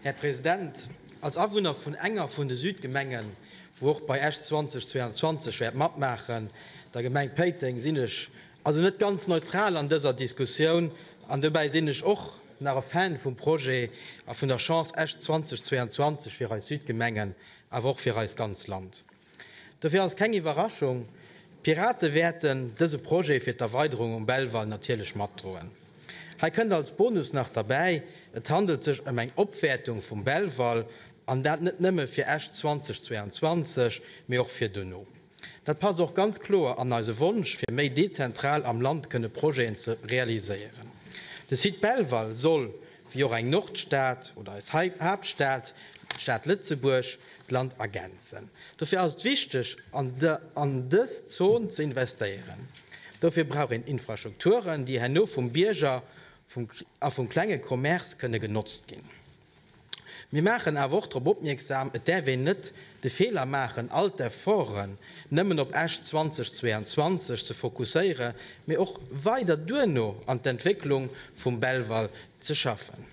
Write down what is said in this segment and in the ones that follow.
Här President, als Awunner vun enger vun de Südgemengen, wou och bei Esch 2022 wäert matmaachen, der Gemeng Péiteng, sinn ech also net ganz neutral an dëser Diskussioun. An dobäi sinn ech och nach e Fan vum Projet a vun der Chance Esch 2022 fir eis Südgemengen, awer och fir eist ganz Land. Dofir ass et keng Iwwerraschung, d'Pirate wäerten dëse Projet fir d'Erweiderung um Belval natierlech matdroen. Hei kënnt als Bonus nach derbäi, et handelt sech ëm eng Opwäertung vum Belval, an dat net nëmme fir Esch 2022, mee och fir dono. Dat passt och ganz kloer an eise Wonsch, fir méi dezentral am Land kënne Projeten ze realiséieren. De Site Belval soll wéi och eng Nordstad oder eis Haaptstad, d'Stad Lëtzebuerg, d'Land ergänzen. Dofir ass et wichteg, an dës Zon ze investéieren. Dofir brauch een Infrastrukturen, déi herno vum Bierger a vum klenge Commerce kënne genotzt ginn. Mir maachen awer och drop opmierksam, et däerf een net de Feeler maachen, all d'Efforten, nëmmen op Esch 2022 ze fokusséiere mee och weider duerno an d'Entwécklung vum Belval ze schaffen.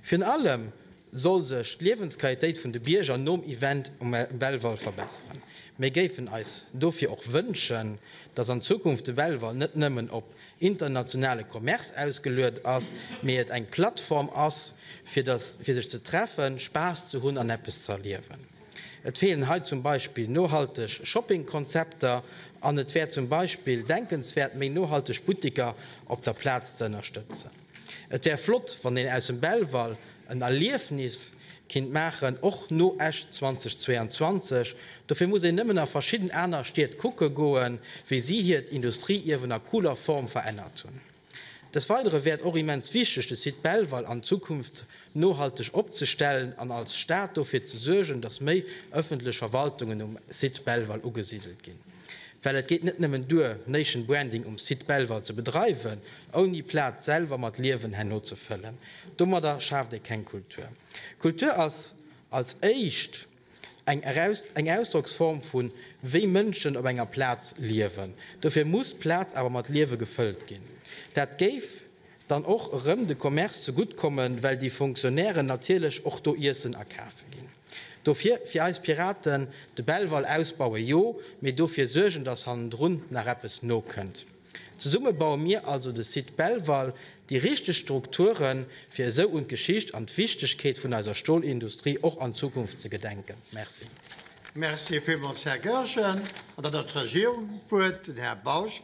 Virun allem soll sech d'Liewensqualitéit vun de Bierger nom Event um Belval verbesseren. Mir géifen eis dofir och wënschen, dass an Zukunft de Belval net nëmmen op internationale Commerce ausgeluet ass, mee et eng Plattform ass fir sech ze treffen, Spaass ze hunn an eppes ze erliewen. Et feelen hei zum Beispill nohalteg Shoppingkonzepter an et wär zum Beispill denkenswäert, méi nohalteg Butteker op der Plaz ze ënnerstëtzen. Et wär flott, wann een aus dem Belval en Erliefnis kinnt maachen, och no Esch 2022. Dofir muss een nëmmen a verschidden aner Stied kucke goen, wéi si hiert Industrieierwen a cooler Form verännert hunn. Des Weidere wär et och immens wichteg, de Site Belval an Zukunft nohalteg opzestellen an als Stad dofir ze suergen, datt méi ëffentlech Verwaltungen um Site Belval ugesidelt ginn. Well et geet net nëmmen duer, Nation Branding um Site Belval ze bedreiwen, ouni d'Plaz selwer mat Liewen herno ze fëllen. Domadder schaaft ee keng Kultur. Kultur ass als éischt. eng Ausdrocksform vun wéi Mënschen op enger Plaz liewen. Dofir muss d'Plaz awer mat Liewe gefëllt ginn. Dat géif dann och erëm de Commerce ze gutt kommen, well déi Fonctionnairen natierlech och do Iessen akafe ginn. Dofir fir eis Piraten, de Belval ausbaue jo, mee dofir suergen, datt hannendrun nach eppes nokënnt. Zesumme baue mir also de Site Belval, déi richteg Strukturen, fir esou un d'Geschicht an d'Wichtegkeet vun eiser Stolindustrie och an Zukunft ze gedenken. Merci. Merci villmools, Här Goergen. An dann ass d'Regierung um Wuert, den Här Bausch.